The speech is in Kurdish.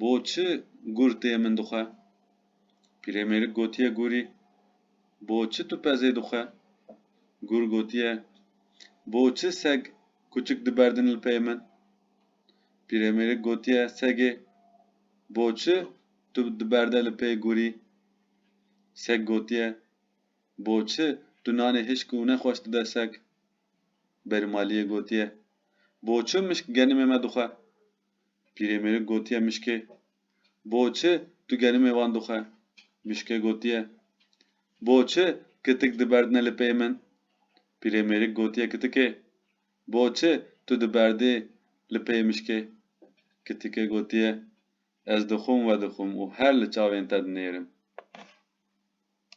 Bo çi gur tê min dixwe? Pîrêmêrik gotiye gurî, Bo çi tu pezê dixwe? Gur gotiye, Bo çi seg kuçik diberdin li pey min? Pîrêmêrik gotiye segê, Bo çi tu diberde li pey gurî? Seg gotiye, Bo çi tu nanê hişk û nexweş dide seg? Berîmaliyê gotiye, Bo çi mişk genimê me dixwe? Pîrê mêrik gotiye mişkê, Bo çi tu gerimê wan dixwe? Mişkê gotiye, Bo çi kitik diberdine li pey min? Pîrê mêrik gotiye kitikê, Bo çi tu diberdî li pey mişkê? Kitikê gotiye, Ez dixwim we dixwim û her li çavên te dinêrim.